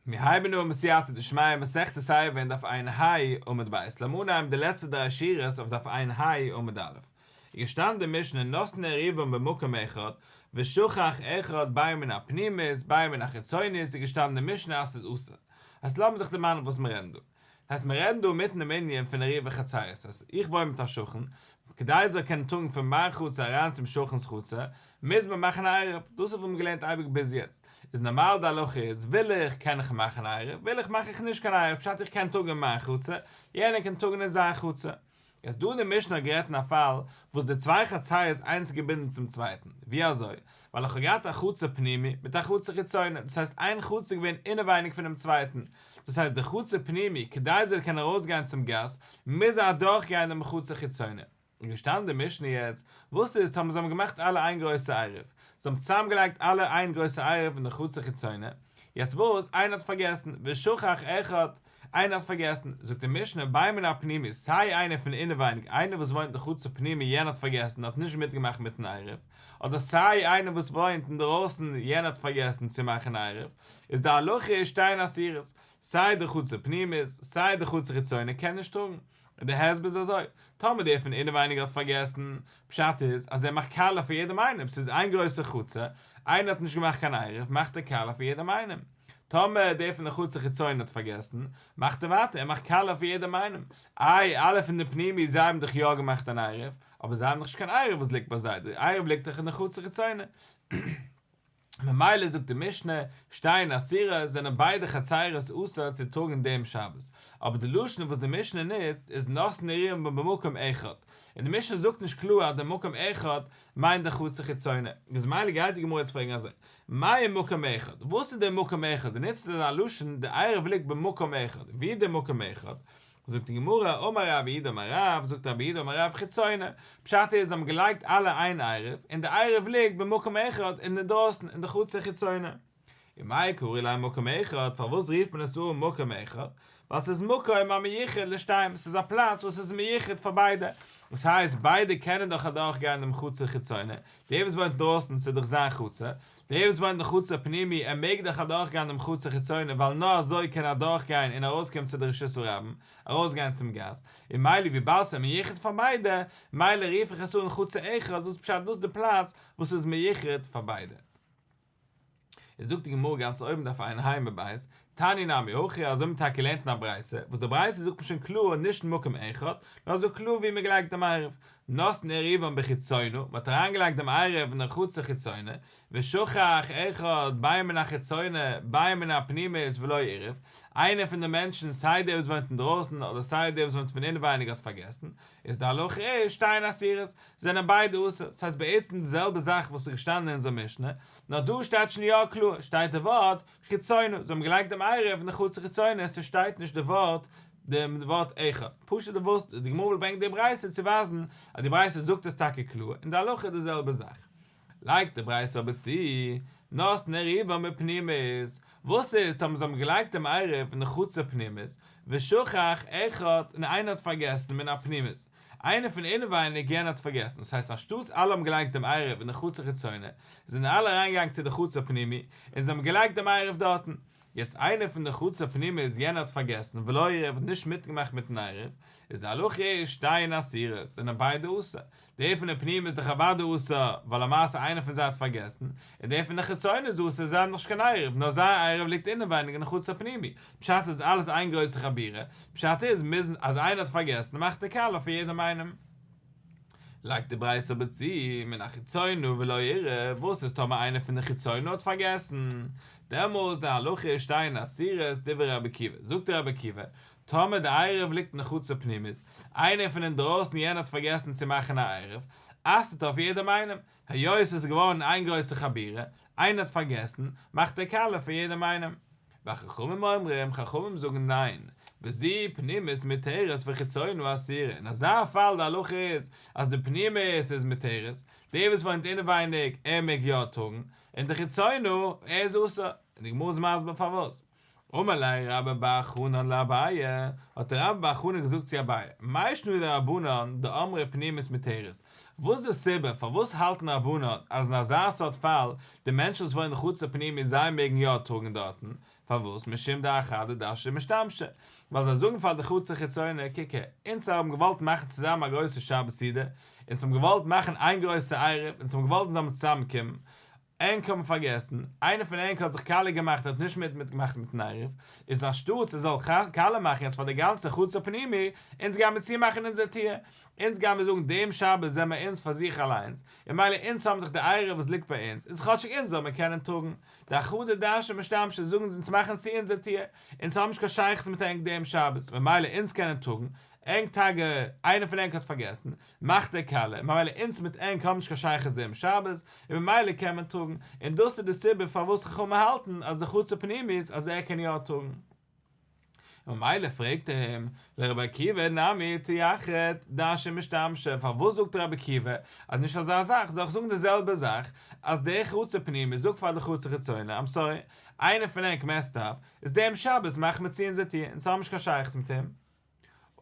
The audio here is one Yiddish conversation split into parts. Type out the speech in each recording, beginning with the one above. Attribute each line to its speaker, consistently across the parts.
Speaker 1: מיר הייבן אן מיט סייעתא דשמיא מסכת סייעתא אין דף עין היי עמוד ב', לאמיר אנהייבן די לעצטע דריי שורות אויף דף עין היי עמוד א', איז געשטאנען די משנה נתנה ריבם במקום אחד ושכח אחד ביי מן הפנימית ביי מן החיצונית איז געשטאנען די משנה אז ס'איז אסור, אז לאמיר זיך דערמאנען וואס מיר רעדן דא. הייסט מיר רעדן דא אינמיטן דעם ענין פון עריות וחצרות אז איך וואוין מיט א שכן, כדי ער זאל קענען טראגן פון מיין חצר אריין צום שכן'ס חצר, מוז מען מאכן א עירוב, דאס האב איך געלערנט אייביג ביז יעצט, איז נארמאל די הלכה איז וויל איך קען איך מאכן א עירוב, וויל איך מאך איך נישט קיין עירוב, פשט איך קען טראגן אין מיין חצר, יענער קען טראגן אין זיין חצר, איז דא אין די משנה גערעדט אין א פאל וואס די צוויי חצאי איז איינס געבינדן צום צווייטן, ווי אזוי? ווייל איך האב געהאט א חצר פנימי מיט א חצר חיצוני, דאס הייסט איין חצר איז געווען אינעווייניג פונעם צווייטן, דאס הייסט די חצר פנימי כדי זי זאל קענען ארויסגיין צום גאס מוז זי אדורך גיין דעם חצר חיצוני, איז געשטאנען די משנה יעצט וואס איז טאמער זיי האבן געמאכט אלע איין גרויסע עירוב, זיי האבן צוזאם געלייגט אלע איין גרויסע עירוב אין די חצר חיצוני, יעצט וואס איינער האט פארגעסן ושכח אחד, איינער האט פארגעסן, זאגט די משנה, ביי מנין פנימי, סיי איינער פון אינעווייניג, איינער וואס וואוינט אין חצר פנימי, יענער האט פארגעסן און האט נישט מיטגעמאכט מיטן עירוב, אדער סיי איינער וואס וואוינט אינדרויסן, יענער האט פארגעסן צו מאכן עירוב, איז די הלכה איז שתיהן אסירות, סיי די חצר פנימית, סיי די חצר חיצונית קען נישט טראגן. און דער הסבר איז אזוי, טאמער דער פון אינעווייניג האט פארגעסן, פשט איז אז ער מאכט קאלע פאר יעדעם איינעם, ס'איז איין גרויסע חצר, איינער האט נישט געמאכט קיין עירוב, מאכט ער קאלע פאר יעדעם איינעם. טאמער דער פון די חצר חיצון האט פארגעסן, מאכט ער ווייטער, ער מאכט קאלע פאר יעדעם איינעם. איי, אלע פון די פנימי, זיי האבן דאך יא געמאכט אן עירוב, אבער זיי האבן דאך נישט קיין עירוב וואס ליגט ביי זיי, דער עירוב ליגט דאך אין די חצר חיצונה. ממילא זאגט די משנה, שטיין אסירה, זענען ביידע חצירות אסור צו טראגן דעם שבת, אבער די לשון וואס די משנה נוצט איז נושא נערים במקום אחד, און די משנה זאגט נישט קלאר אז די מקום אחד מיינט די חצר חיצונה, איז ממילא גייט די גמרא יעצט פרעגן אזוי, מהו מקום אחד? וואס איז דער מקום אחד? די נוצט אזא לשון, דער עירוב ליגט במקום אחד, ווי איז דער מקום אחד? זאגט די גמרא, אמר רבי איד אמר רב, זאגט רבי איד אמר רב חיצונה, פשט איז זיי האבן געלייגט אלע איין עירוב, און די עירוב ליגט במקום אחד אינדערדרויסן אין די חצר חיצונה. ומאי קראי ליה מקום אחד, פארוואס רופט מען עס אן מקום אחד? ווייל ס'איז מקום המייחד לשתיהם, ס'איז א פלאץ וואס איז מייחד פאר ביידע, דאס הייסט ביידע קענען דאך אדורך גיין דעם חצר חיצונה, דער וואס וואוינט אינדרויסן ס'איז דאך זיין חצר, דער וואס וואוינט אין חוץ הפנימי ער מעג דאך אדורך גיין דעם חוץ החיצוני ווייל נאר אזוי קען ער אדורך גיין און ארויס קומען צו די רשות הרבים, ארויס גיין צום גאס, און מילא וויבאלד ס'איז מיוחד פאר ביידע מילא רוף איך עס אן חוץ האחד דאס פשט דאס די פלאץ וואס איז מיוחד פאר ביידע. איז זאגט די גמרא גאנץ אויבן דארף איין היימער בית תני נמי הכי, אזוי האט מען טאקע געלערנט אין א ברייתא, וואס די ברייתא זאגט פשוט און קלאר נישט אין מקום אחד, נאר עס זאגט קלאר וואו מען געלייגט דעם עירוב, נתן עירובון בחיצונו, מען האט אריינגעלייגט דעם עירוב אין דער חצר חיצונה, ושכח אחד ביה מן החיצונה ביה מן הפנימית ולא עירוב, איינער פון די מענטשן סיי דער וואס וואוינט אינדרויסן אדער סיי דער וואס וואוינט פון אינווייניג האט פארגעסן, איז די הלכה איז, שתיהן אסירות, זענען ביידע אסור, ס'הייסט בעצם די זעלבע זאך וואס איז געשטאנען אין אונזער משנה, נאר דא שטייט שוין יא קלאר, שטייט די ווארט, חיצונו, זיי האבן געלייגט דעם עירוב נחוץ צו חיצונו, עס שטייט נישט די ווארט דעם ווארט אחד, פשוט די וואס די גמרא וויל ברענגען די ברייתא צו ווייזן אז די ברייתא זאגט עס טאקע קלאר און די הלכה איז די זעלבע זאך, לייגט די ברייתא אבער צו, נאס נעריבה מפנימית, וואס איז טאמער זיי האבן געלייגט דעם עירוב נחוץ צו פנימית, ושכח אחד און איינער האט פארגעסן מן הפנימית, איינער פון אינעווייניג יענער האט פארגעסן, דאס הייסט אנשטאטס אלע האבן געליינט דעם עירוב אין די חצר חיצונה, זענען אלע אריינגעגאנגען צו די חצר פנימי, און זיי האבן געליינט דעם עירוב דארטן. יעצט איינער פון די חצר פנימי איז יענער האט פארגעסן ולא עירב האט נישט מיטגעמאכט מיטן עירוב, איז די הלכה איז שתיהן אסירות, זענען ביידע אסור. דער פון די פנימי איז דאך אוודאי אסור, ווייל למעשה איינער פון זיי האט פארגעסן, און דער פון די חיצונה איז אסור, זיי האבן דאך נישט קיין עירוב, נאר זייער עירוב ליגט אינעווייניג אין חצר פנימי, פשט איז אלעס איין גרויסע חבירה, פשט איז מוזן אז איינער האט פארגעסן מאכט ער קאלע פאר יעדעם איינעם. לייגט די ברייתא אבער צו, מן החיצונו ולא ירא, וואס איז טאמער איינער פון די חיצונו האט פארגעסן? דעמאלס די הלכה איז שטיין אסירות, דברי רבי עקיבא, זאגט דער רבי עקיבא, טאמער די עירוב ליגט אין חצר פנימית, איינער פון אינדרויסן יענער האט פארגעסן צו מאכן א עירוב, אסר'ט ער אויף יעדעם איינעם, היות עס איז געווארן איין גרויסע חבירה, איינער האט פארגעסן, מאכט ער קאלע פאר יעדעם איינעם. והחכמים אומרים, חכמים זאגן ניין, בזה פנימית מותרת וחיצונה אסורה, אין אזא פאל די הלכה איז, אז די פנימית איז מותרת, דער וואס וואוינט אינעווייניג, ער מעג יא טראגן, און די חיצונה, ער איז אסור, און די גמרא איז מסביר פארוואס. אמר ליה רבא בר חנא לאביי, האט רבא בר חנא געזאגט צו אביי, מאי שנא לרבנן דאמרי פנימית מתירות, וואס איז די סיבה פארוואס האלטן רבנן אז אין אזא סארט פאל, די מענטשן וואס וואוינען חוץ לפנימית זיי מעגן יא טראגן דארטן, פארוואס משום דאחד לדשא משתמשה, ווייל זיי זאגן פאר די חצר חיצונה, קוק הער, אונז האבן געוואלט מאכן צוזאמען א גרויסע שבת סעודה, אונז האבן געוואלט מאכן איין גרויסע עירוב, אונז האבן געוואלט אונז זאלן צוזאמען קומען, ענק האבן פארגעסן, איינער פון ענק האט זיך קאלע געמאכט האט נישט מיט מיט געמאכט מיטן עירוב, איז אנשטאטס ער זאל קאלע מאכן יעצט פאר די גאנצע חוץ הפנימי, אונז גייען מיר צומאכן אונזער טיר, אונז גייען מיר זאגן דעם שבת זעמער אונז פאר זיך אליינס, און מילא אונז האבן דאך די עירוב וואס ליגט ביי אונז, איז כאטשיג אונז זאל מיר קענען טראגן די אחדות דאנשען משתמשין זאגן אונז מאכן צו אונזער טיר, אונז האבן נישט קיין שייכות מיט ענק דעם שבת, ממילא אונז קענען טראגן, ענק טאקע איינער פון ענק האט פארגעסן, מאכט ער קאלע, ממילא אונז מיט ענק האבן נישט קיין שייכות דעם שבת, און ממילא קען מען טראגן, און דאס איז די סיבה פארוואס חכמים האלטן אז די חצר פנימי איז אז ער קען יא טראגן. וממילא פרעגט ער אים, לרבי עקיבא נמי תיחד דאשי משתמשי, פארוואס זאגט רבי עקיבא אז נישט אזא זאך, זאל איך זאגן די זעלבע זאך, אז דער חצר פנימי זאגט פאר די חצר חיצוני, איים סארי, איינער פון ענק מעסט אפ, איז דעם שבת מאכט מען צו אונזער טיר, אונז האבן נישט קיין שייכות מיט אים.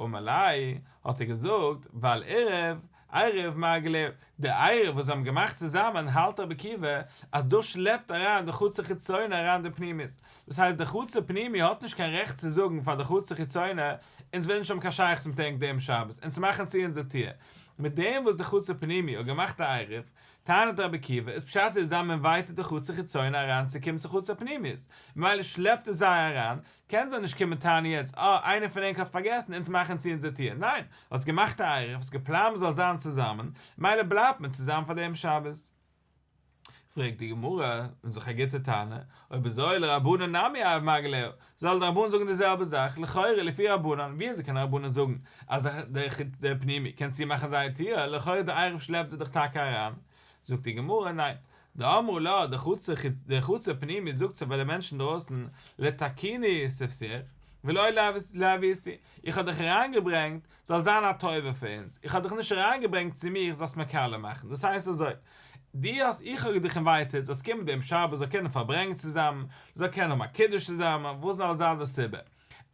Speaker 1: ומלאי, האט ער געזאגט, ועל עירוב, עירוב מרגליות, די עירוב וואס זיי האבן געמאכט צוזאמען, האלט רבי עקיבא, אז דאס שלעפט אריין די חצר חיצונה אריין די פנימית. דאס הייסט די חצר פנימי האט נישט קיין רעכט צו זאגן פאר די חצר חיצונה, אונז ווילן נישט האבן קיין שייכות מיט ענק דעם שבת, אונז מאכן צו אונזער טיר. מיט דעם וואס די חצר פנימי האט געמאכט א עירוב, טענה'ט רבי עקיבא, איז פשט איז זיי מ'אינווייטעד די חצר חיצונה אריין צו קומען צו חצר פנימית, ממילא שלעפט עס זיי אריין, קען זיי נישט קומען טענה'ן יעצט אה איינער פון ענק האט פארגעסן אונז מאכן צו אונזער טיר, ניין! האסט געמאכט א עירוב, האסט געפלאנט מ'זאל זיין צוזאמען, מילא בלייבט מען צוזאמען פאר דעם שבת. פרעגט די גמרא און זיך א גוטע טענה, אויב אזוי לרבנן נמי אב מג להו, זאלן די רבנן זאגן די זעלבע זאך, לכאורה לפי רבנן ווי אזוי קענען רבנן זאגן אז דער חוץ דער פנימי קען צומאכן זייער טיר, לכאורה דער עירוב שלעפט זיי דאך טאקע אריין, זאגט די גמרא ניין, דאמרו לה, די חצר פנימי איז זאגט זי פאר די מענטשן אינדרויסן, לתקיני ספסך, ולא להביסי, איך האב דיך אריינגעברענגט זאל זיין א טובה פאר אונז, איך האב דיך נישט אריינגעברענגט צו מיר זאלסט מיר קאלער מאכן, דאס הייסט אזוי, דו האסט איך האב דיך אינווייטעד זאלסט קומען דעם שבת זאל קענען פארברענגען צוזאמען, זאל קענען האבן א קידוש צוזאמען, וואס זאל זיין די סיבה?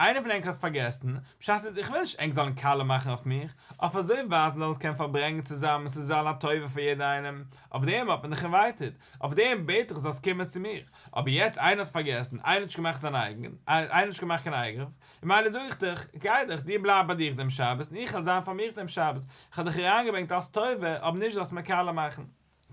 Speaker 1: איינער פון ענק האט פארגעסן, פשט איז איך וויל נישט ענק זאלן קאלע מאכן אויף מיך, אויף אזוי ווייט מ'זאל אונז קענען פארברענגן צוזאמען ס'זאל זיין א טובה פאר יעדער איינעם, אויף דעם האט מען דיך אינווייטעד, אויף דעם בעט איך זאלסט קומען צו מיר, אבער יעצט איינער האט פארגעסן, איינער האט נישט געמאכט זיין אייגן, איינער האט נישט געמאכט קיין אייגרוף, ממילא זאג איך דיך, גיי דיך, דיר בלייב ביי דיך דעם שבת און איך וועל זיין פאר מיך דעם שבת, איך האב דיך אריינגעברענגט אלס טובה אבער נישט זאלסט מיר קאלע מאכן.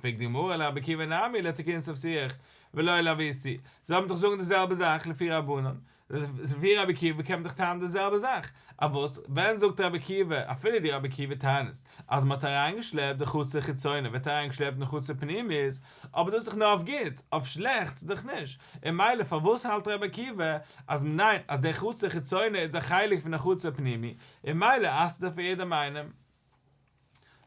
Speaker 1: פרעגט די גמרא על רבי עקיבא נמי לא תקין סוף שיח ולא על אבי ס זיי האבן דאך זאגן די זעלבע זאך לפי רבנן לפי רבי עקיבא קען מען דאך טענה'ן די זעלבע זאך אויף וואס ווען זאגט רבי עקיבא אפילו די רבי עקיבא טענה'ט אז מ'האט אריינגעשלעפט די חצר חיצונה ווערט אריינגעשלעפט אין חצר פנימית אבער דאס איז דאך נאר אויף גוטס אויף שלעכטס דאך נישט און מילא פארוואס האלט רבי עקיבא אז מ'מיינט אז די חצר חיצונה איז א חלק פון די חצר פנימי און מילא אסר'ט ער פאר יעדעם איינעם.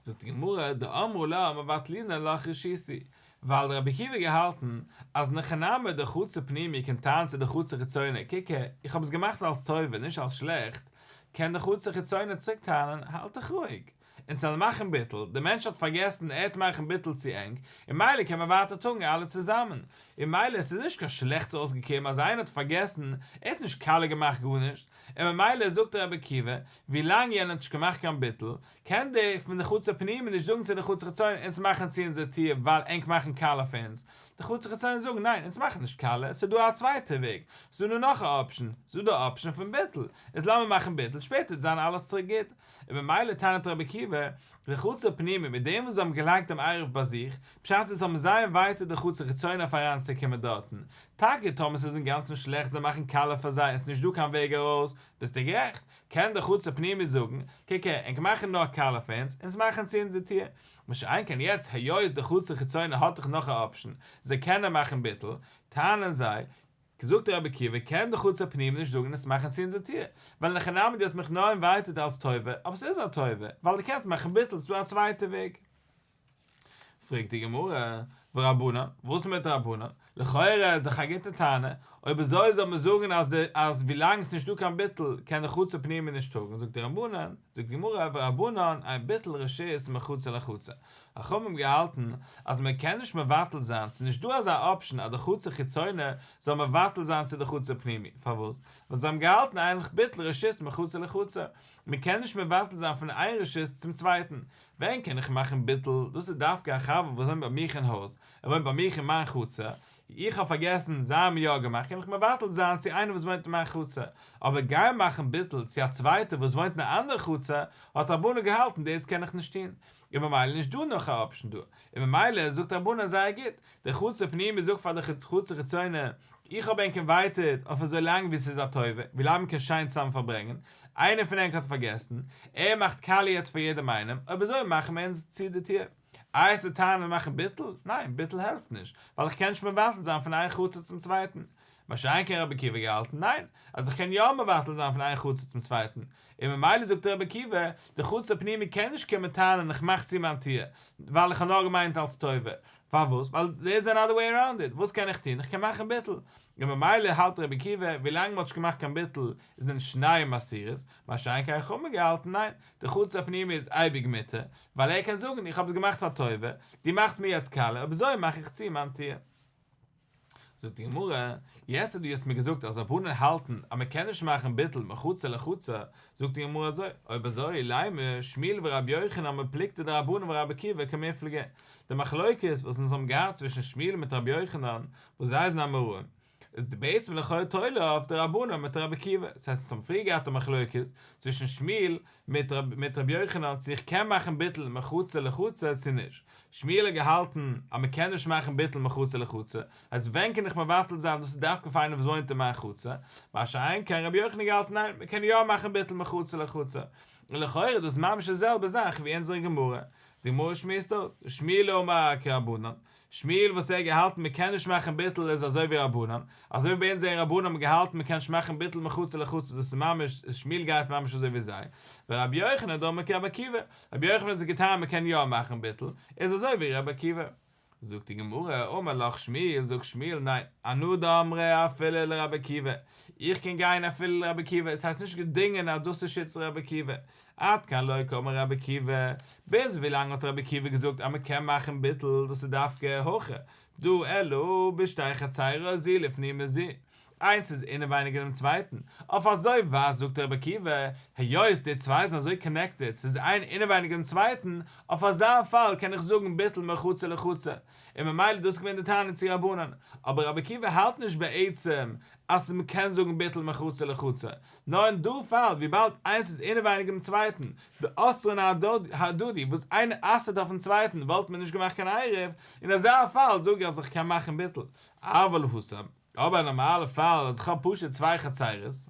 Speaker 1: זאגט די גמרא, דאמרו לה מבטלינן לך רשיסי, ווייל רבי עקיבא האט געהאלטן אז נחנמי דחוצה פנימי קען טענה'ן צו די חוצה חיצוני, קוק איך האב עס געמאכט אלס טובה נישט אלס שלעכט, קען די חוצה חיצוני צוריק טענה'ן האלט דיך רואיג, אונז וועלן מאכן ביטול, דער מענטש האט פארגעסן ער וועט מאכן ביטול צו ענק, און מילא קען מען ווייטער טאגן אלע צוזאמען, און מילא עס איז נישט קיין שלעכטס אויסגעקומען אז איינער האט פארגעסן, ער האט נישט קאלע געמאכט גארנישט, און ממילא זאגט דער רבי עקיבא, ווילאנג יענער האט נישט געמאכט קיין ביטול, קען דער פון די חוץ הפנימי נישט זאגן צו די חוץ החיצוני אונז מאכן צו אונזער טיר ווייל ענק מאכן קאלע פאר אונז, די חוץ החיצוני זאגן ניין אונז מאכן נישט קאלע, ס'איז דא א צווייטע וועג, ס'איז דא נאך א אפשן, ס'איז דא די אפשן פון ביטול, איז לאמיר מאכן ביטול, שפעטער וועט זיין אלעס צוריק גוט. און ממילא טענה'ט רבי עקיבא, די חוץ הפנימי מיט דעם וואס זיי האבן געלייגט דעם עירוב ביי זיך, פשט איז האבן זיי אינווייטעד די חוץ החיצוני אויף אריינצוקומען דארטן, טאקע טאמער ס'איז אינגאנצן שלעכט זיי מאכן קאלער פאר זיי און ס'איז נישט דא קיין וועג ארויס, ביסטו גערעכט, קען דער חוץ הפנימי זאגן, קע קע, ענק מאכן נאר קאלער פאר אונז, אונז מאכן צו אונזער טיר. מה שאין כן יעצט היות דער חוץ החיצוני האט דאך נאך א אפשן, זיי קענען מאכן ביטול, טענה'ן זיי, זאגט דער רבי עקיבא, קען דער חוץ הפנימי נישט זאגן אונז מאכן צו אונזער טיר, ווייל אין הכי נמי דו האסט מיך נאר אינווייטעד אלס טובה, אבער ס'איז א טובה, ווייל דו קענסט מאכן ביטול, ס'דא א צווייטע וועג. פרעגט די גמרא, ורבנן, וואס מיט רבנן? לכאורה איז דאך א גוטע טענה, אויב אזוי זאל מען זאגן אז די אז ווילאנג ס'נישט דא קיין ביטול קען די חצר פנימי נישט טראגן, זאגט רבנן, זאגט די גמרא, ורבנן, איין ביטול רשות מחצר לחצר, חכמים האבן געהאלטן אז מען קען נישט מבטל זיין, ס'איז נישט דא אזא אפשן אז די חצר חיצונה זאל מבטל זיין צו די חצר פנימי, פארוואס? ווייל זיי האבן געהאלטן איינליך ביטול רשות מחצר לחצר, מען קען נישט מבטל זיין פון איין רשות צום צווייטן, ווען קען איך מאכן ביטול? דאס איז דווקא א חבר וואס וואוינט ביי מיך אין הויז, ער וואוינט ביי מיך אין מיין חצר, איך האב פארגעסן זיי האבן יא געמאכט קען איך מבטל זיין צו איינער וואס וואוינט אין מיין חצר, אבער גיין מאכן ביטול צו א צווייטער וואס וואוינט אין א אנדערע חצר האט רבנו געהאלטן דאס קען איך נישט טון, און ממילא נישט דא נאך א אפשן דא, און ממילא זאגט רבנו זייער גוט, דער חצר פנימי איז אויך פאר די חצר חיצוני, איך האב ענק אינווייטעד אויף אזוי לאנג ווי ס'איז א טובה, ווי לאנג מ'קען שיין צוזאמען פארברענגען, איינער פון ענק האט פארגעסן? ער מאכט קאליע יעצט פאר יעדעם איינעם, אויב אזוי מאכן מיר אונז צו די טיר. איי ס'איז טייער מיר מאכן ביטול? ניין, ביטול העלפט נישט, ווייל איך קען נישט מבטל זיין פון איין חצר צום צווייטן. מה שאין כן רבי עקיבא געהאלטן, ניין, אז איך קען יא מבטל זיין פון איין חצר צום צווייטן. און ממילא זאגט רבי עקיבא, די חצר פנימי קען נישט קומען טענה'ן איך מאך צו מיין טיר, ווייל איך האב נאר געמיינט אלס טובה. פארוואס? ווייל דער איז אנאדער וועי אראונד איט, וואס קען איך טון? איך קען מאכן ביטול. און ממילא האלט רבי עקיבא, ווילאנג מ'האט נישט געמאכט קיין ביטול איז נישט שניי מסורת, מה שאין כן איך האב מיר געהאלטן ניין, די חוץ הפנימי איז אייביג מותר, ווייל ער קען זאגן איך האב עס געמאכט פאר טובה, דו מאכסט מיר יעצט קאלע, אויב אזוי מאך איך צו מיין טיר. זאגט די גמרא, יעצט אז דו האסט מיר געזאגט אז רבנן האלטן אז מען קען נישט מאכן ביטול מחצה לחצה, זאגט די גמרא אזוי, אויב אזוי ליימער שמיל ורבי יוחנן מפלגתא דרבנן ורבי עקיבא כמפלגה, די מחלוקת וואס אונז האבן געהאט צווישן שמיל מיט רבי יוחנן וואס זיי זענען אמוראים, איז בעצם לכאורה תולה אויף די רבנן מיט רבי עקיבא, ס'הייסט אונז האבן פריער געהאט א מחלוקת צווישן שמיל מיט ר' יוחנן צו איך קען מאכן ביטול מחוצה לחוצה צו נישט, שמואל האט געהאלטן אז מען קען נישט מאכן ביטול מחוצה לחוצה, אז ווען קען איך מבטל זיין דאס איז דווקא פאר איינער וואס וואוינט אין מיין חצר, מה שאין כן ר' יוחנן האט געהאלטן ניין מען קען יא מאכן ביטול מחוצה לחוצה, און לכאורה איז דאס ממש די זעלבע זאך ווי אונזערע גמרא, די גמרא שמועסט אויס, שמואל אמר כרבנן, שמואל וואס ער האט געהאלטן מען קען נישט מאכן ביטול איז אזוי ווי רבנן, אזוי ווי ביי אונז זענען רבנן האבן געהאלטן מען קען נישט מאכן ביטול מחצה לחצות דאס איז ממש איז שמואל גייט ממש אזוי ווי זיי, ורבי יוחנן דאמר כרבי עקיבא, רבי יוחנן האט זיך געטענהט מען קען יא מאכן ביטול איז אזוי ווי רבי עקיבא. זאגט די גמרא, אמר לך שמואל, זאגט שמואל, ניין, אנא דאמרי אפילו לרבי עקיבא, איך קען גיין אפילו לרבי עקיבא, עס הייסט נישט געדינגען אז דאס איז שיטת רבי עקיבא, עד כאן לא כאמר רבי עקיבא, ביז ווילאנג האט רבי עקיבא געזאגט אז מ'קען מאכן ביטול, דאס איז דווקא הכה דא אלא בשתי חצרות זי לפני מזי, איינס איז אינעווייניג אינעם צווייטן, אויף אזוי ווייזט זאגט רבי עקיבא, היות די צוויי זענען אזוי קאנעקטעד, ס'איז איין אינעווייניג אינעם צווייטן, אויף אזא פאל קען איך זאגן ביטול מרחצה לחצר, און ממילא איז דאס געווען די תענית צו רבנן, אבער רבי עקיבא האלט נישט בעצם אז מ'קען זאגן ביטול מחוצה לחוצה נאר אין דו פאל וויבאלד איינס איז אינעווייניג דעם צווייטן, די אסר'ן ההדדי וואס איינער אסר'ט אויפן צווייטן וואלט מען נישט געמאכט קיין עירוב, אין אזא פאל זאג איך אז איך קען מאכן ביטול, אבל הוסב, אבער אין נארמאלע פאל אז איך האב פשוט צוויי חצרות,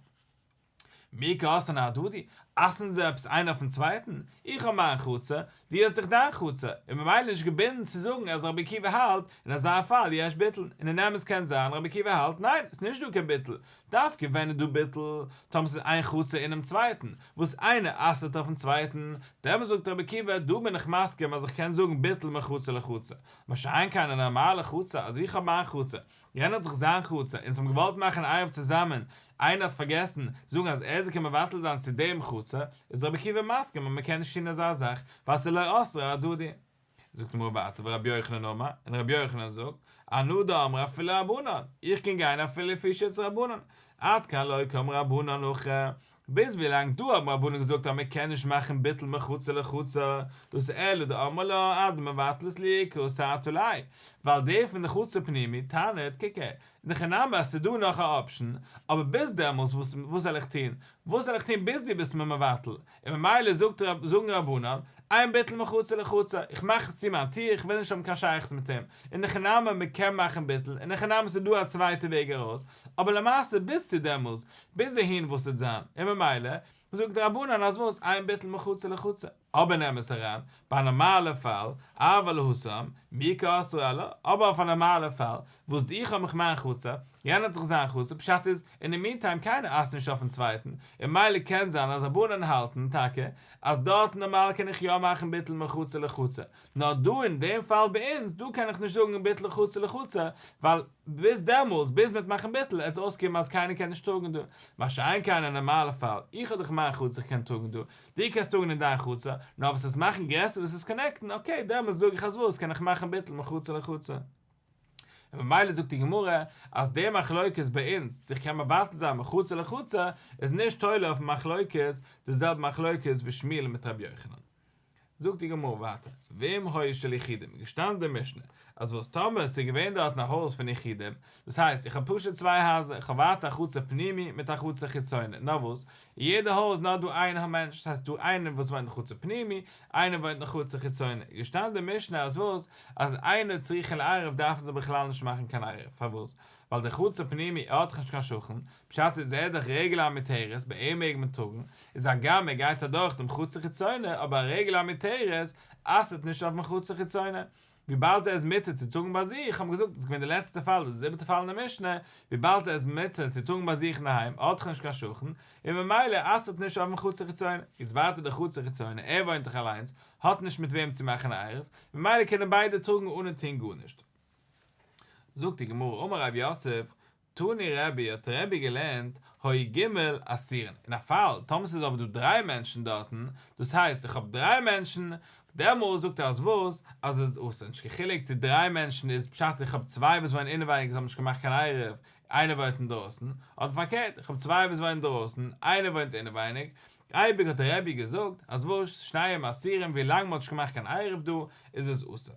Speaker 1: מי כעסנה הדדי, אסר'ן זיי עפעס איינער אויפ'ן צווייטן, איך האב מיין חוצה, דו האסט דיך דיין חוצה, און ממילא נישט געבינדן צו זאגן אז רבי עקיבא האלט, אין אזא פאל יש ביטול, און אין אמת קען זיין רבי עקיבא האלט ניין, ס'איז נישט דא קיין ביטול, דווקא ווען איז דא ביטול, טאמער ס'איז איין חוצה אינעם צווייטן, וואס איינער אסר'ט אויפ'ן צווייטן, דעמאלס זאגט רבי עקיבא, דא בין איך מסכים אז איך קען זאגן ביטול מחוצה לחוצה, מה שאין כן אין א נארמאלע חוצה, אז איך האב מיין חוצה, גערעדט האט זיך זיין חצר און זיי האבן געוואלט מאכן עירוב צוזאמען, איינער האט פארגעסן זאגן אז ער זאל קומען מבטל זיין צו דעם חצר, איז רבי עקיבא מסכים אז מען קען נישט טון אזא זאך ווייל עס איז לא עשרה הדדי. זאגט אים רב אטא ורבי יוחנן אמר, און רבי יוחנן זאגט, אנא דאמרי אפילו רבנן, איך קען גיין אפילו לפי שיטת רבנן, עד כאן לא קם רבנן אחר, ביז ווי לאנג דא האבן רבנים געזאגט אז מען קען נישט מאכן ביטול מחוצה לחוצה, דאס אלא דאמר לה אדם מבטל את לעיקרו סייעתא ליה, ווייל דער פון די חצר פנימי טענה'ט קוק הער, נכה נמי אז ס'איז דא נאך א אפשן, אבער ביז דעמאלס וואס זאל איך טון, וואס זאל איך טון ביז דו ביסט מיר מבטל, און ממילא זאגט זאגן רבנן, איין ביטול מחוצה לחוצה, איך מאך צו מיין טיר איך וויל נישט האבן קיין שייכות מיט אים, און נכה נמי מען קען מאכן ביטול, און נכה נמי ס'איז דא א צווייטע וועג ארויס, אבער למעשה ביז צו דעמאלס ביז אהין וואס וועט זיין, און ממילא זאגט די רבנן אז וואס איין ביטול מחוצה לחוצה, אבער נעם עס אריין ביי א נארמאלע פאל, אב על האסור, מי כאסור עליו, אבער אויף א נארמאלע פאל, וואס איך האב מיך מיין חצר, יענער האט זיך זיין חצר, פשט איז, אין די מינטיים קיינער אסר'ט נישט אויפן צווייטן, און מילא קען זיין אז רבנן האלטן טאקע אז דארטן נארמאל קען איך יא מאכן ביטול מחוצה לחוצה, נאר דא אין דעם פאל ביי אונז דא קען איך נישט זאגן ביטול לחוצה לחוצה, ווייל ביז דעמאלטס ביז מ'וועט מאכן ביטול עט אויסקומען אז קיינער קען נישט טראגן דא, מה שאין כן אין א נארמאלע פאל, איך האב דאך אין מיין חצר כ'קען טראגן דא, דו קענסט טראגן אין דיין חצר, נאר וואס עס מאכן גרעסער וואס עס קאנעקטן, אקעי דעמאלטס זאג איך אז וואס קען איך מאכן ביטול מחוצה לחוצה. און ממילא זאגט די גמרא אז די מחלוקת ביי אונז צו כ'קען מבטל זיין מחוצה לחוצה איז נישט תולה אויפן מחלוקת די זעלבע מחלוקת ווי שמואל מיט רבי יוחנן, זאגט די גמרא ווייטער, ואם היה של יחידים, געשטאנען די משנה, אז וואס טאמער עס איז געווען דארטן א הויז פון יחידים, דאס הייסט איך האב פשוט צוויי הייזער, איך האב ווייטער א חצר פנימי מיט א חצר חיצוני, נאר וואס, אין יעדע הויז נאר דא איין א מענטש, דאס הייסט דא איינער וואס וואוינט אין חצר פנימי, איינער וואוינט אין חצר חיצוני, געשטאנען די משנה אז וואס, אז איינער צריכין לערב דארפן זיי בכלל נישט מאכן קיין ערב, פארוואס, ווייל די חצר פנימי ער האט דאך נישט קיין שכן, פשט איז ער דאך רגל המותרת ביי אים מעג מען טראגן, איז הגם ער גייט אדורך דעם חצר חיצונה אבער א רגל המותרת אסר'ט נישט אויפן חצר חיצונה וויבאלד ער איז מותר צו טראגן ביי זיך, האמיר געזאגט דאס איז געווען די לעצטע פאל די זיבעטע פאל אין די משנה, וויבאלד ער איז מותר צו טראגן ביי זיך אינדערהיים ער האט דאך נישט קיין שכן און ממילא אסר'ט נישט אויפן חצר חיצונה, יעצט ווייטער די חצר חיצונה ער וואוינט דאך אליינס האט נישט מיט וועם צו מאכן א עירוב ממילא קענען ביידע טראגן אנע טוהן גארנישט. זאגט די גמרא אמר רב יוסף, תני רבי האט רבי געלערנט הוי ג אסירין אין א פאל טאמער ס'איז אבער דא דריי מענטשן דארטן דאס הייסט איך האב דריי מענטשן דעמאלס זאגט ער אז וואס אז עס איז אסור נישט קיין חילוק צו דריי מענטשן איז פשט איך האב צוויי וואס וואוינען אינעווייניג און האבן נישט געמאכט קיין עירוב איינער וואוינט אינדרויסן אדער פארקערט איך האב צוויי וואס וואוינען דרויסן איינער וואוינט אינעווייניג אייביג האט רבי געזאגט אז וואס שניהם אסירים ווי לאנג מ'האט נישט געמאכט קיין עירוב דא איז עס אסור.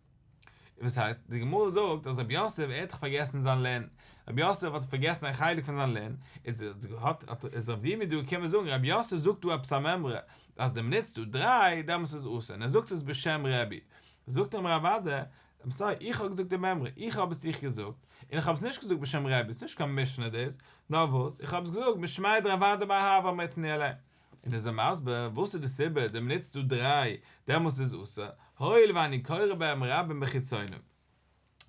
Speaker 1: וואס הייסט? די גמרא זאגט אז רבי יוסף ער האט דאך פארגעסן זיין לענ, רבי יוסף האט פארגעסן א חלק פון זיין לענ, איז האט איז רב דימי דא געקומען זאגן רבי יוסף זאגט דא עפעס א מימרא אז די מ'נוצט דא דריי דעמאלטס איז אסור און ער זאגט עס בשם רבי, זאגט אים רב אדער, איים סארי איך האב געזאגט די מימרא, איך האב עס דיך געזאגט, און איך האב עס נישט געזאגט בשם רבי, ס'נישט קיין משנה דאס, נאר וואס, איך האב עס געזאגט משמיא דרב אדער בר אהבה מרעטני אליין. און איז ער מסביר וואס איז די סיבה דעם ניצט דו דריי דעמאלס איז אסור הואיל ואני קורא בהם רבים בחיצונים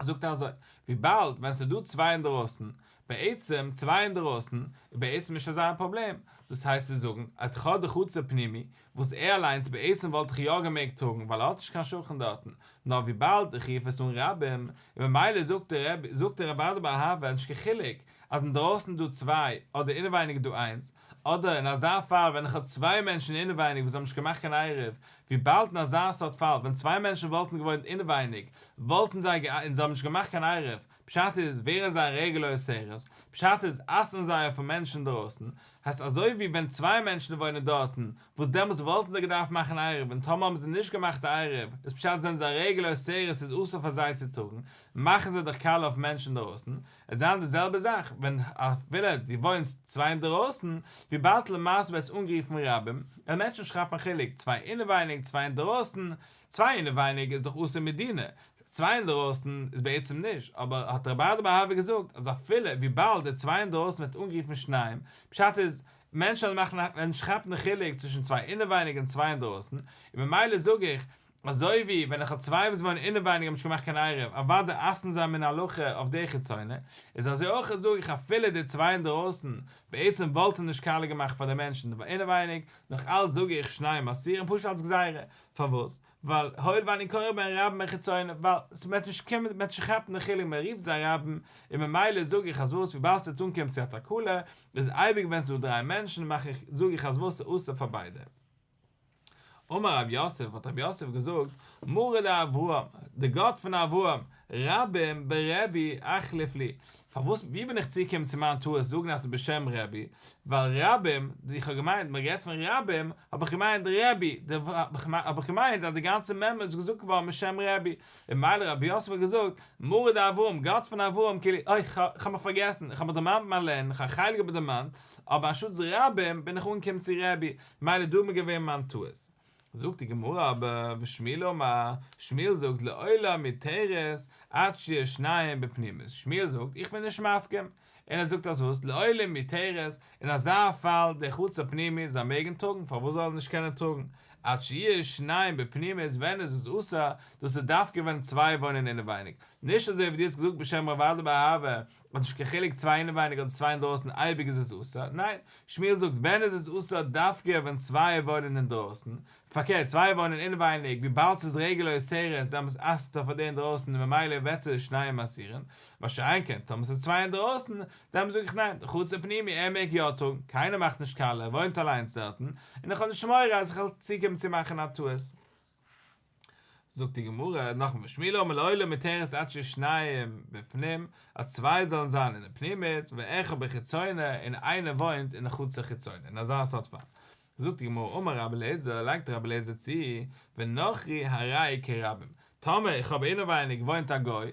Speaker 1: זאגט ער אזוי וויבאלד ווען ס'איז דא צוויי אינדערויסן בעצם צוויי אינדערויסן איז בעצם נישט אזא א פראבלעם דאס הייסט צו זאגן את ח די חצר פנימי וואס ער אליינס בעצם וואלט איך יא געמעגט טראגן ווייל ער האט נישט קיין שכן דארטן נאר וויבאלד איך רוף עס אן רבים און ממילא זאגט ער זאגט ער רב אדרבא אהבה נישט קיין חילוק אז אינדערויסן איז דא צוויי אדער אינעווייניג איז דא איינס אדער אין אזא פאל ווען איך האב צוויי מענטשן אינעווייניג וואס האבן נישט געמאכט קיין עירוב, וויבאלד אין אזא סארט פאל ווען צוויי מענטשן וואלטן געוואוינט אינעווייניג וואלטן זיי גע און זיי האבן נישט געמאכט קיין עירוב, פשט איז ווערן זיי רעגולער סערעס, פשט איז אסר'ן זיי אויפן מענטש אינדרויסן, הייסט אזוי ווי ווען צוויי מענטשן וואוינען דארטן, וואס דעמאלטס וואלטן זיי געדארפט מאכן עירוב און טאמער האבן זיי נישט געמאכט א עירוב איז פשט זענען זיי רעגולער סערעס איז אסור פאר זיי צו טארן, מאכן זיי דאך קאלע אויף מענטש אינדרויסן, עס זיין די זעלבע זאך ווען אפילו דו וואוינסט צוויי אינדערויסן, וויבאלד למעשה ווערט עס אנגערופן רבים, און מענטשן שכפן חילוק צוויי אינעווייניג צוויי אינדערויסן, צוויי אינעווייניג איז דאך אסור מדינא, צוויי אינדערויסן איז בעצם נישט, אבער האט רבי אדמו ר געזאגט אז אפילו וויבאלד די צוויי אינדערויסן ווערט אנגערופן שניים, פשט איז מענטשן וועלן מאכן א וועלן שכפן חילוק צווישן צוויי אינעווייניג און צוויי אינדערויסן, און ממילא זאג איך אזוי ווי ווען איך האב צוויי וואס וואוינען אינעווייניג האבן נישט געמאכט קיין עירוב אוודאי אסר'ן זיי מן ההלכה אויף די חיצונה, איז אזוי אויך זאג איך אפילו די צוויי אינדערויסן בעצם וואלטן נישט קאלע געמאכט פאר די מענטשן די אינעווייניג, נאך אלץ זאג איך שניהם אסירים פשוט אלץ גזירה, פארוואס? ווייל הואיל ואני קורא בין רבים בין חיצונים ווייל ס'וועט נישט קומען מען וועט נישט כאפן די חילוק מען רופט זיי רבים און ממילא זאג איך אז וואס וויבאלד ס'וועט אנקומען צו א תקלה איז אייביג ווען ס'איז דא דריי מענטשן מאך איך זאג איך אז וואס איז אסור פאר ביידע. אמר רב יוסף, האט רב יוסף געזאגט, מרה לאברהם, די גאט פון אברהם, רבים ברבי אחליף לי, פארוואס, ווי בין איך צוגעקומען צו מיין טעות זאגן אז ס'איז בשם רבי, ווייל רבים, איך האב געמיינט מען רעדט פון רבים, האב איך געמיינט די רבי, האב איך געמיינט אז די גאנצע מ מ איז געזאגט געווארן משם רבי, און מילא רב יוסף האט געזאגט, מרה לאברהם, גאט פון אברהם, כאילו, אוי, כ'האב מיך פארגעסן, כ'האב מיך דערמאנט מיין לערנען, כ'האב א חלק געבער דערמאנט, אבער אנשטאטס רבים, בין איך אנגעקומען צו רבי, מילא דא מיר געווען מיין טעות. זאגט די גמרא אבער ושמי לומר, שמואל זאגט לעולם מתרת עד שיהיו שניים בפנימית, שמואל זאגט איך בין נישט מסכים, און ער זאגט אז וואס לעולם מתרת, אין אזא פאל דער חוץ הפנימי זיי מעגן טראגן פארוואס זאלן זיי נישט קענען טראגן עד שיהיו שניים בפנימית ווען עס איז אסור, דאס איז דווקא ווען צוויי וואוינען אינעווייניג, נישט אזוי ווי דו האסט געזאגט בשם רב אדלער באהבה, האט נישט קיין חילוק צוויי אינעווייניג אדער צוויי אינדרויסן אייביג איז עס אסור, ניין, שמואל זאגט ווען איז עס אסור דווקא ווען צוויי וואוינען אינדרויסן, פארקערט צוויי וואוינען אינעווייניג וויבאלד ס'איז רגל אוסרת דאמאלס אסר'ט ער פאר די אינדרויסן און ממילא וועט עס שניהם אסירן, מה שאין כן טאמער ס'איז צוויי אינדרויסן דאן זאג איך ניין, חצר פנימי ער מעג יא טראגן קיינער מאכט נישט קאלע ער וואוינט אליינס דארטן און איך האב נישט מורא אז איך וועל צוקומען צו מאכן א טעות. זאגט די גמרא נאכן ושמילו אמר לעולם מתרת עד ששניים בפנים אז צוויי זאלן זיין אין די פנימית ואחד בחיצונה און איינער וואוינט אין די חוץ החיצונה אין אזא סארט פאל זאגט די גמרא אמר רבי אליעזר לייגט רבי אליעזר צו ונוכרי הראי' כרבים טאמער איך האב אינעווייניג וואוינט א גוי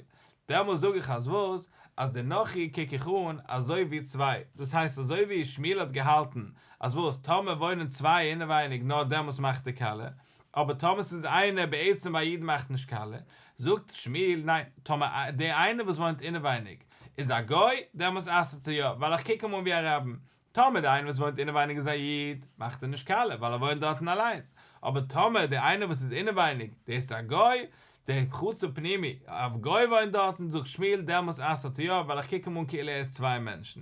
Speaker 1: דעמאלס זאג איך אז וואס אז די נוכרי קוק איך אן אזוי ווי צוויי דאס הייסט אזוי ווי שמילו האט געהאלטן אז וואס טאמער וואוינען צוויי אינעווייניג נאר דעמאלס מאכט די כלה אבער טאמער ס'איז איינער בעצם ביי א איד מאכט נישט קאלע, זאגט שמואל ניין, טאמער דער איינער וואס וואוינט אינעווייניג איז א גוי, דעמאלס אסר'ט ער יא, ווייל איך קוק אים אן ווי א רבים, טאמער דער איינער וואס וואוינט אינעווייניג איז א איד, מאכט ער נישט קאלע, ווייל ער וואוינט דארטן אליינס, אבער טאמער דער איינער וואס איז אינעווייניג, דער איז א גוי, דער חצר פנימי, א גוי וואוינט דארטן, זאגט שמואל דעמאלס אסר'ט ער יא, ווייל איך קוק אים אן כאילו ער איז צוויי מענטשן,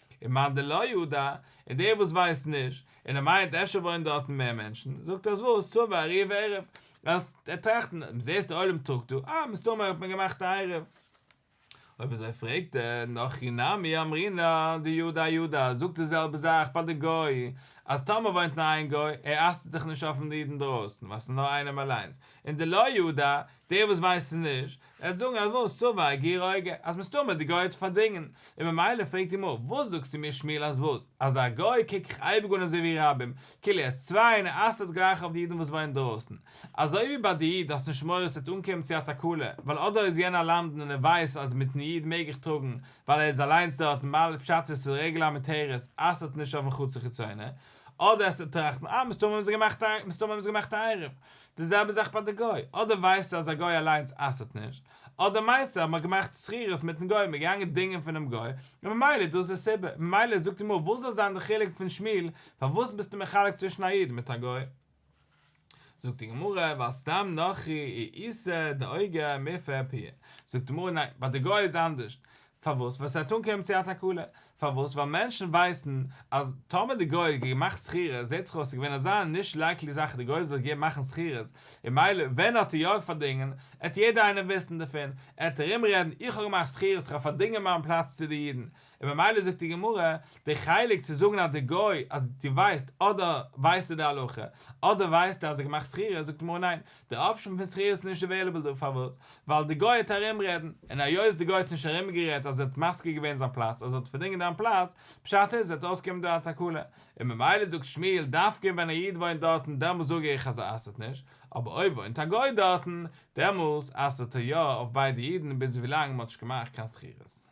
Speaker 1: און מאן דלא ידע, און דער וואס ווייסט נישט, און ער מיינט אפשר וואוינען דארטן מער מענטשן, זאגט ער אז וואס, צום וארי וערב, ער טראכט נאר, זעסט דער עולם טראגט דא, אה, מסתמא האט מען געמאכט א עירוב. אויב אזוי פרעגט ער נאך הכי נמי אמרינא דיודע יודע, זאגט די זעלבע זאך ביי די גוי, אז טאמער וואוינט נאר איין גוי, ער אסר'ט זיך נישט אויפן איד אינדרויסן, ווייל ס'איז נאר איינעם אליינס, און דלא ידע, די וואס ווייסן נישט וועלן זאגן אז וואס סובר הגר א אגב אז מסתמא די גוי האט פארדינגען און ממילא פרעגט אים אפ וואס זאגסטו מיר שמואל אז וואס אז א גוי קוק איך אייביג אן אזוי ווי רבים כאילו ער איז צוויי און ער אסר'ט גלייך אויף די אידן וואס וואוינען דרויסן אזוי ווי ביי די איד האסט נישט מורא ס'וועט אנקומען צו א תקלה ווייל אודאי איז יענער א למדן און ער ווייסט אז מיטן איד מעג איך טראגן ווייל ער איז אליינס דארט ממילא פשט איז ס'איז רגל המותרת אסר'ט נישט אויפן חצר חיצונה אדער עס צו טראכטן אה מסתמא האבן זיי געמאכט א מסתמא האבן זיי געמאכט א עירוב די זעלבע זאך ביי די גוי, אדער ווייסטו אז א גוי אליינס אסר'ט נישט, אדער מיינסטו אז מען האט געמאכט שכירות מיטן גוי, מען איז געגאנגען דינגען פונעם גוי, און ממילא איז דאס די סיבה, ממילא זאגט די גמרא וואס זאל זיין די חילוק פון שמיל, פארוואס ביסטו מחלק צווישן א איד מיט א גוי? זאגט די גמרא ווייל סתם נוכרי היא איסר דאיגר מפר פיה, זאגט די גמרא ניין, ביי די גוי איז אנדערשט, פארוואס? ווייל ס'וועט אנקומען צו א תקלה. פארוואס? ווייל מענטשן ווייסן אז טאמער די גוי האט געמאכט שכירות זעהט זיך אויס ס'איז געווען אזא נישט לייקלי זאך אז די גוי זאל געבן מאכן שכירות, און מילא ווען האט ער יא פארדינגען, עט יעדער איינער וויסן דערפון, עט ארום רעדן איך האב געמאכט שכירות איך האב פארדינגען מיין פלאץ צו די אידן, און ממילא זאגט די גמרא, די חלק צו זאגן אז די גוי אז די ווייסט אדער ווייסטו די הלכה אדער ווייסטו אז ער האט געמאכט שכירות זאגט די גמרא ניין די אפשען פון שכירות איז נישט עוועילעבל דא, פארוואס? ווייל די גוי האט ארומרעדן, און היות די גוי האט נישט ארומגערעדט אז ער האט מפקיר געווען זיין פלאץ אז ער האט פארדינגען דיין פלאץ, פשט איז וועט אויסקומען דא א תקלה, און ממילא זאגט שמואל דווקא ווען א איד וואוינט דארטן דעמאלס זאג איך אז ער אסר'ט נישט, אבער אויב וואוינט א גוי דארטן, דעמאלס אסר'ט ער יא אויף ביידע אידן ביז ווילאנג מען האט נישט געמאכט קיין שכירות.